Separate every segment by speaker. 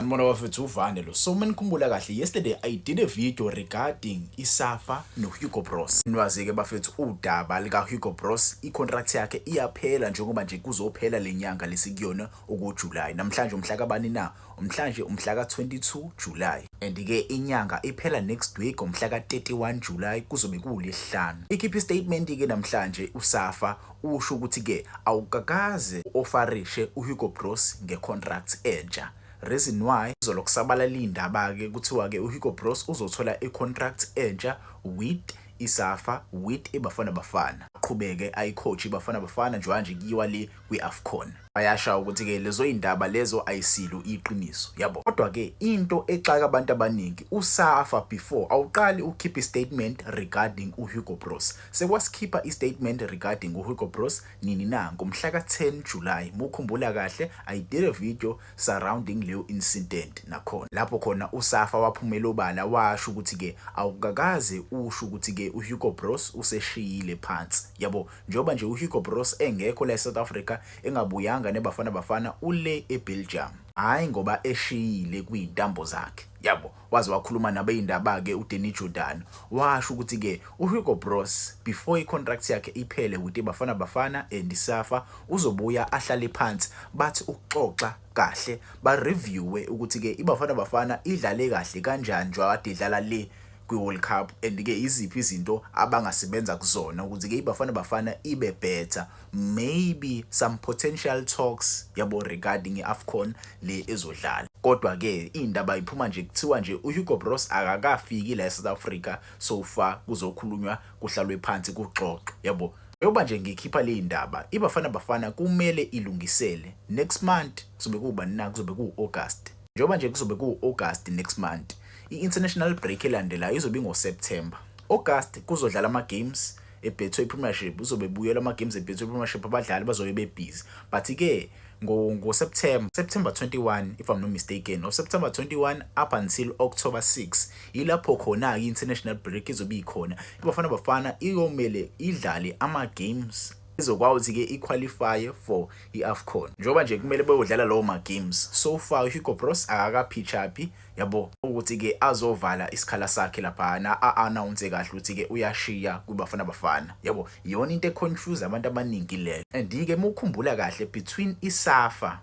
Speaker 1: Ngibona bafethu uvane lo. So menikhumbula kahle yesterday I did a video regarding iSafa no Hugo Bros. Nwazi ke bafethu udaba lika Hugo Bros icontract yakhe iyaphela njengoba nje kuzophela lenyanga lesikuyona oku July. Namhlanje umhla kabani na? Umhlanje umhla ka 22 July. And ke inyanga iphela next week ngomhla ka 31 July kuzobe kulesihlanu. Ikhiphe statement ke namhlanje uSafa Usho ukuthi ke awukakaze u-ofarishe uHugo Broos nge-contract entsha. Reason why izolo kusabalale iy'ndaba ke kuthiwa ke uHugo Broos uzothola i-contract entsha with iSafa with iBafana Bafana. Aqhubeke ayi-coach iBafana Bafana njengoba nje kuyiwa le kwi-Afcon. Bayasha ukuthi-ke lezoy'ndaba lezo ayisilo iqiniso, yabo. Kodwa-ke into exaka abantu abaningi, uSafa before awuqali ukukhipha istatement regarding uHugo Broos. Sekwasikhipha istatement regarding uHugo Broos nini na? Ngomhlaka 10 July, mukhumbula kahle, I did a video surrounding leyo incident nakhona. Lapho khona uSafa waphumela obala washo ukuthi-ke awukakaze usho ukuthi-ke uHugo Broos useshiyile phansi, yabo. Njengoba nje uHugo Broos engekho la eSouth Africa, engabuyanga neBafana Bafana, ule eBelgium. Hhayi ngoba eshiyile kwizintambo zakhe. Yabo, waze wakhuluma nabeyindaba-ke uDanny Jordaan, washo ukuthi-ke uHugo Broos before i-contract yakhe iphele with iBafana Bafana and iSafa, uzobuya ahlale phansi bathi ukuxoxa kahle ba reviewe ukuthi ke iBafana Bafana idlale kahle kanjani njengoba kade idlala le kwi-World Cup and ke iziphi izinto abangasebenza kuzona ukuthi ke iBafana Bafana ibe better maybe some potential talks yabo regarding i-Afcon le ezodlala kodwa ke indaba iphuma nje kuthiwa nje uHugo Broos akakafiki la eSouth Africa so far kuzokhulunywa kuhlalwe phansi kuxoxwe yabo njengoba nje ngikhipha le ndaba ibafana bafana kumele ilungisele next month kuzobe kubani na kuzobe kuwu-august njengoba nje kuzobe kuwu-august next month i-international break elandelayo izobe ingoseptember august kuzodlala ama-games ebethwe premiership uzobe buyela ama-games ebethwe premiership abadlali bazobe bebhizi but-ke ngoseptember september 21 if i'm not mistaken or september 21 up until october 6 Yilapho khona-ke i-international break izobe ikhona. IBafana Bafana iyomele idlale ama-games izokwazi-ke iqualifye for i-afcon njengoba nje kumele beyodlala lawo ma-games so far uhugo bros akakaphitshaphi yabo ukuthi-ke azovala isikhala sakhe laphana a-anawunse kahle ukuthi-ke uyashiya kwibafana bafana yabo iyona into econfuse abantu abaningi leyo and-ke uma ukhumbula kahle between isafa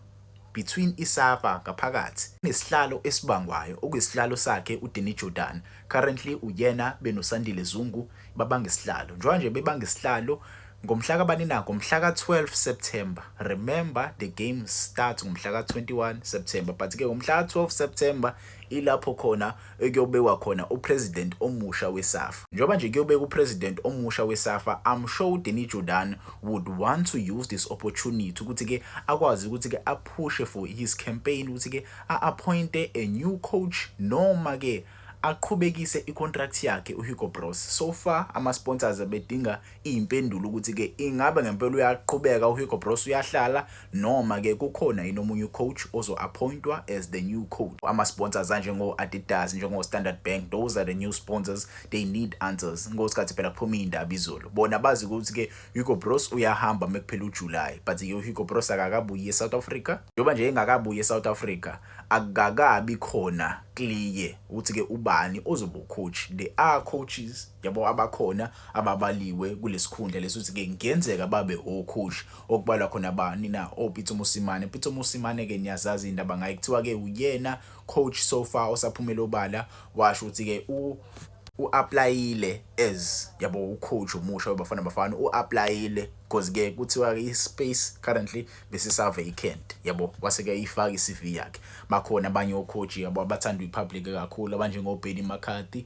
Speaker 1: between iSafa ngaphakathi nesihlalo esibangwayo okuyisihlalo sakhe uDanny Jordaan currently uyena benoSandile Zungu babanga isihlalo njengoba nje bebanga isihlalo ngomhla kabani na ngomhla ka-12 September remember the game starts ngomhla ka-21 September but ke ngomhla ka-12 September ilapho khona ekuyobekwa khona uPresident omusha weSafa. Njengoba nje kuyobekwa uPresident omusha weSafa, I'm sure uDanny Jordaan would want to use this opportunity ukuthi ke akwazi ukuthi ke aphushe for his campaign ukuthi ke a-appointe a new coach noma ke aqhubekise icontract yakhe uHugo Broos. So far ama-sponsors bedinga Impendulo ukuthi ke ingabe ngempela uyaqhubeka uHugo Broos uyahlala noma ke kukhona yini omunye ucoach ozo-appointwa as the new coach. Ama-sponsors anjengo-Adidas, njengo-Standard Bank, those are the new sponsors, they need answers ngosikhathi phela kuphume iy'ndaba izolo. Bona bazi ukuthi ke Hugo Broos uyahamba mekuphela uJuly but ke uHugo Broos akakabuyi eSouth Africa. Njengoba nje engakabuyi eSouth Africa akukakabi khona clear ukuthi ke ubani ozoba ucoach. There are coaches Yabo abakhona ababaliwe kulesikhundla lesi ukuthi ke ngenzeka babe okhush okubalwa khona bani na oPitso oh, Musimane. Pitso Musimane ke niyazazi indaba ngaye kuthiwa ke uyena coach so far osaphumela obala washo ukuthi ke u uapplyile as yabo ucoach omusha webafana bafana uapplyile because ke kuthiwa ispace currently besisa vacant yabo wase ke ifaka iCV yakhe bakhona abanye ocoach yabo abathanda ipublic kakhulu abanjengo Benny McCarthy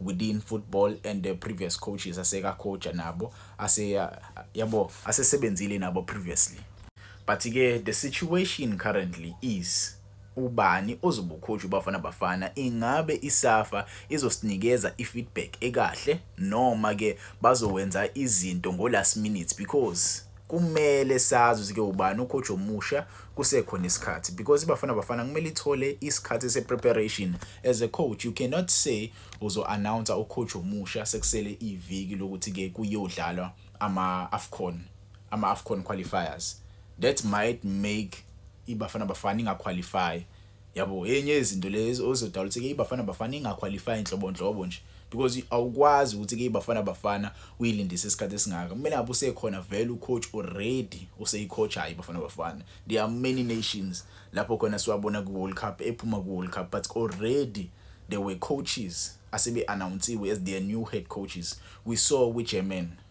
Speaker 1: within football and the previous coaches aseka coach nabo ase yabo asesebenzile nabo previously but ke the situation currently is ubani ozobukhosha ubafana bafana ingabe isafa izosinikeza ifeedback ekahle noma ke bazowenza izinto ngo last minute because kumele sazi ke ubani ucoach omusha kusekhona isikhathi because ibafana bafana kumele ithole isikhathi se-preparation as a coach you cannot say uzo-announce ucoach omusha sekusele iviki lokuthi-ke kuyodlalwa ama-afcon ama-afcon qualifiers that might make ibafana bafana ingaqualify yabo enye yezinto lezi ozodala ukuthi ke ibafana bafana ingaqualify inhlobonhlobo nje because awukwazi ukuthi ke ibafana bafana uyilindise isikhathi esingaka kumele ngabe usekhona vele ucoach already useyicoach hayi ibafana bafana there are many nations lapho khona siwabona ku World Cup ephuma ku World Cup but already there were coaches asebe announcewe as their new head coaches we saw with German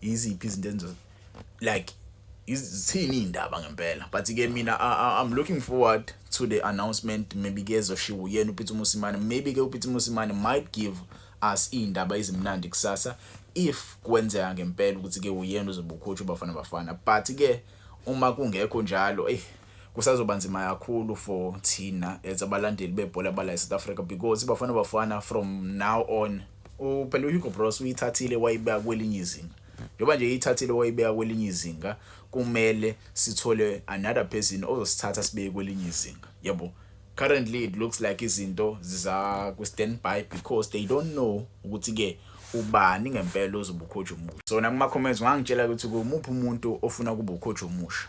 Speaker 1: iziphi izinto enzo like izithini indaba ngempela but ke mina I'm looking forward to the announcement maybe ke ezoshiwo uyena uPeter Musimane maybe ke uPeter Musimane might give us indaba ezimnandi kusasa if kwenzeka ngempela ukuthi ke uyena uzobukhotshwa bafana bafana but ke uma kungekho njalo eh kusazoba nzima kakhulu for thina as abalandeli bebhola bala eSouth Africa because iBafana Bafana from now on uphela uHugo Broos uyithathile wayibeka kwelinye izinga njengoba nje ithathile wayibeka kwelinye izinga kumele sithole another person ozosithatha sibeke kwelinye izinga yabo currently it looks like izinto ziza ku standby because they don't know ukuthi ke ubani ngempela ozobukhotha umusha so nakuma comments ngangitshela ukuthi kumuphi umuntu ofuna kubukhotha umusha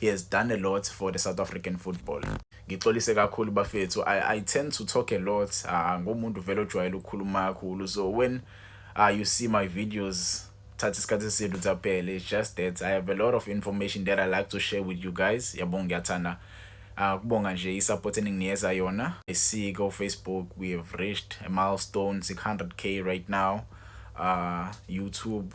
Speaker 1: He has done a lot for the South African football. Ngixolise kakhulu bafethu. I, I tend to talk a lot. Uh, ngomuntu vele ojwayele ukukhuluma kakhulu. So when uh, you see my videos thatha isikhathi esintu tsaphele it's just that i have a lot of information that i like to share with you guys yabonga ngiyathanda uh, kubonga nje i-support eninginikeza yona isiko facebook we have reached a milestone 600k right now uh, youtube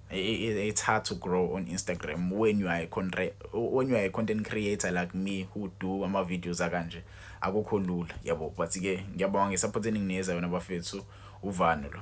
Speaker 1: it's hard to grow on Instagram when you are a content when you are a content creator like me who do ama videos akanje akukho lula yabo but ke ngiyabonga ngesupport eningineza yona bafethu uvano lo